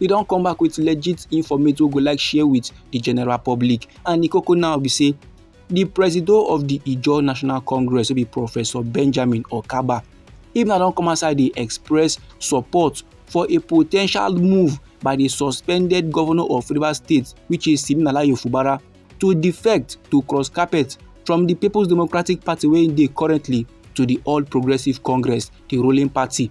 we don come back with legit informate wey we go like share with the general public and the koko now be say the presido of the ijaw national congress wey be professor benjamin okaba him now don come outside dey express support for a po ten tial move by the suspended governor of rivers state which is siminalayi fubara to defect to cross carpet from the people's democratic party wey dey currently to the all progressives congress the ruling party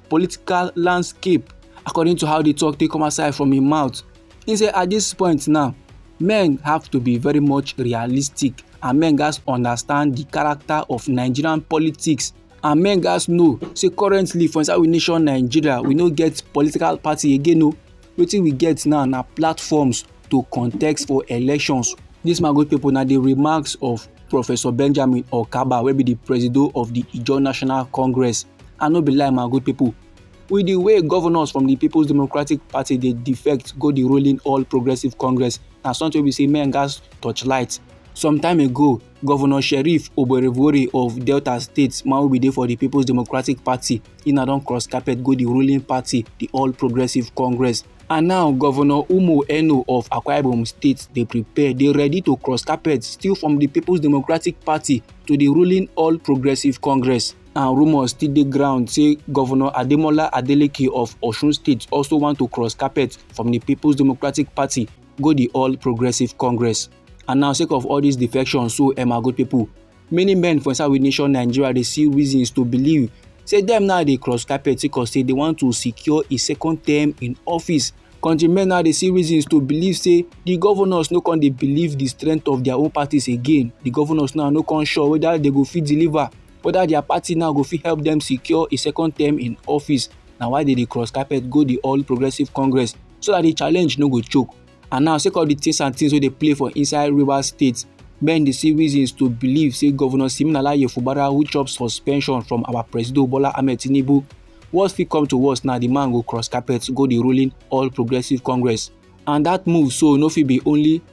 political landscape according to how the talk take come outside from im mouth he say at this point now men have to be very much realistic and men gats understand the character of nigerian politics and men gats know say currently for inside we nation nigeria we no get political party again o wetin we get now na platforms to contest for elections This my good people na the remarks of professor benjamin okaba wey be the presido of the ijaw national congress I no be lie my good people. With the way governors from the People's Democratic Party dey defect go the ruling All Progressive Congress, na something wey be say men gatz torchlight. Some time ago, Governor Sheriff Oborevwori of Delta State, man wey bin dey for the People's Democratic Party, he na don cross carpet go the ruling party, the All Progressive Congress. And now, Governor Umo Eno of Akwa Ibom State dey prepare, dey ready to cross carpet still from the People's Democratic Party to the ruling All Progressive Congress. and rumours still dey ground say govnor ademola adeleke of osun state also want to cross carpet from di peoples democratic party go di all progressive congress and now sake of all dis defection so emma good pipo many men for inside we nation nigeria dey see reasons to believe say dem now dey cross carpet sake of say dey want to secure a second term in office country men now dey see reasons to believe say di govnors no con dey believe di strength of dia own parties again di govnors now no con sure weda dey go fit deliver. whether their party now go fit help them secure a second term in office na why they dey cross carpet go the all progressive congress so that the challenge no go choke and now sake of the things and things wey dey play for inside rivers state men dey see reasons to believe say governor siminalayi fubara who chop suspension from our presido bola ahmed tinubu worst fit come to worst now the man go cross carpet go the ruling all progressive congress and that move so no fit be only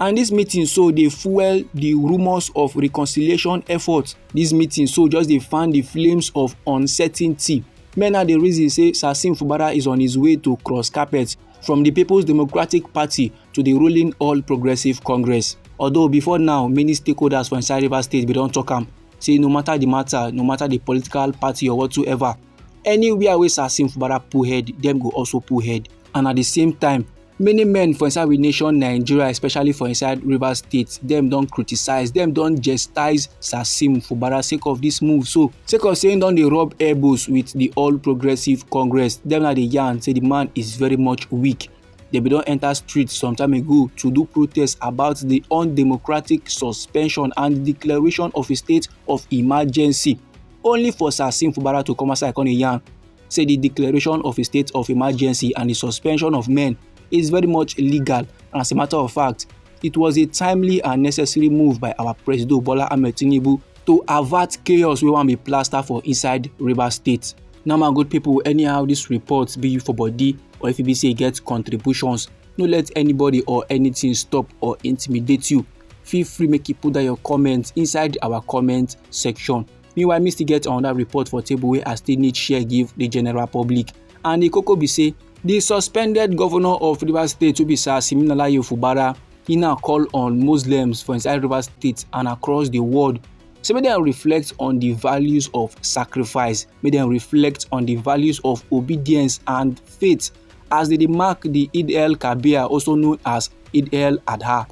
and this meeting so dey fuel the rumours of reconciliation efforts this meeting so just dey fan the flames of uncertainty men now dey reason say sasim fubara is on his way to cross carpet from the people's democratic party to the ruling all progressives congress although before now many stakeholders for inside rivers state bin don talk am say no matter the matter no matter the political party or whatsoever anywhere wey sasim fubara pull head dem go also pull head and at the same time many men for inside we nation nigeria especially for inside rivers state dem don criticise dem don gestise sasim fubara sake of dis move so sake of say im don dey rub elbows wit di all progressives congress dem na dey yarn say di man is very much weak dem bin don enta streets some time ago to do protest about di undemocratic suspension and declaration of a state of emergency only for sasim fubara to come outside come dey yarn say the declaration of a state of emergency and the suspension of men is very much illegal. And as a matter of fact, it was a timely and necessary move by our President Bola Ahmed Tinubu to avert chaos wey wan be plaster for inside Rivers State. Now my good people, anyhow this report be you for body or if you be say e get contributions, no let anybody or anything stop or intimidate you. Feel free make you put down your comments inside our comment section. meanwhile me still get another report for table wey i still need share give the general public and the koko be say the suspended governor of rivers state wey be sir siminalayi ofubara he now call on muslims for inside rivers state and across the world say make dem reflect on the values of sacrifice make dem reflect on the values of obedience and faith as they dey mark the Eid el Kabir, also known as Eid el Adha.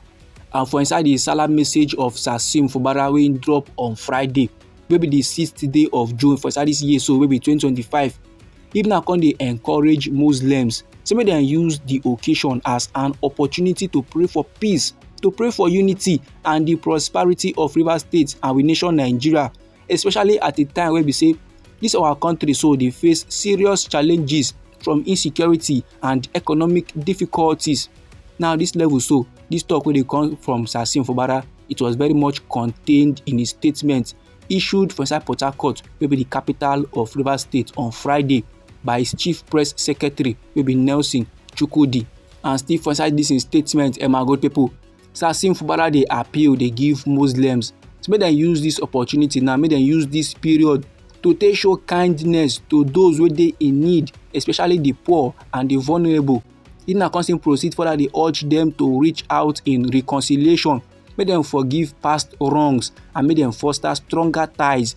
And for inside the Salah message of Sasim Fubara wey drop on Friday, wey be the sixth day of June for inside this year, so wey be 2025, Ibn Akon dey encourage Muslims say make dem use the occasion as an opportunity to pray for peace, to pray for unity and the prosperity of Rivers State and we nation Nigeria especially at a time wey be say this our country so dey face serious challenges from insecurity and economic difficulties now this level so this talk wey dey come from sir sim fubara it was very much contained in a statement issued for inside port harcourt wey be the capital of rivers state on friday by his chief press secretary wey be nelson chukwudi and still for inside dis im statement emma gold pipo Sassim Fubara dey appeal dey give Muslims so make dem use this opportunity now make dem use this period to take show kindness to those wey dey in need especially the poor and the vulnerable Ina Council proceed further dey urge them to reach out in reconciliation make dem forgive past wrongs and make dem foster stronger ties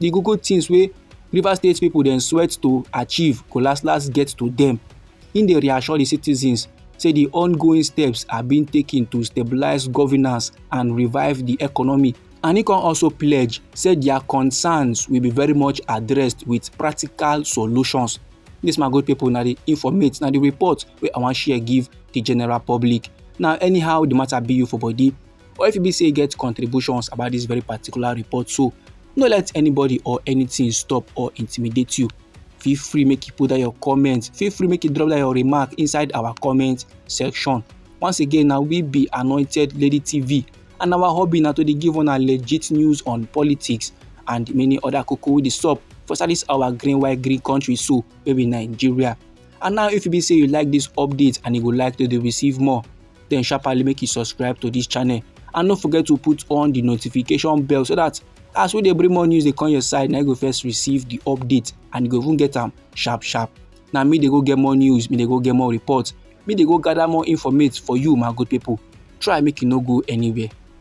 the koko things wey Rivers State people dem sweat to achieve go last last get to them. Im dey reassure the citizens say the ongoing steps are being taken to stabilize governance and revive the economy. And he can also pledge say their concerns will be very much addressed with practical solutions. This my good people na the informate na the report wey I wan share give the general public. Now anyhow the matter be you for body Or if e be say you get contributions about this very particular report so, no let anybody or anything stop or intimidate you. Feel free make you put down your comment, feel free make you drop down your remark inside our comment section. Once again, now we be Anointed Lady TV and our hobby now to dey give una legit news on politics and many other koko wey dey sup for inside this our green white green country so wey be Nigeria. And now if you be say you like this update and you go like to dey receive more, then sharply make you subscribe to this channel and no forget to put on the notification bell so that as we dey bring more news dey come your side na you go first receive the update and you go even get am sharp sharp na me dey go get more news me dey go get more report me dey go gather more informate for you my good people try make you no go anywhere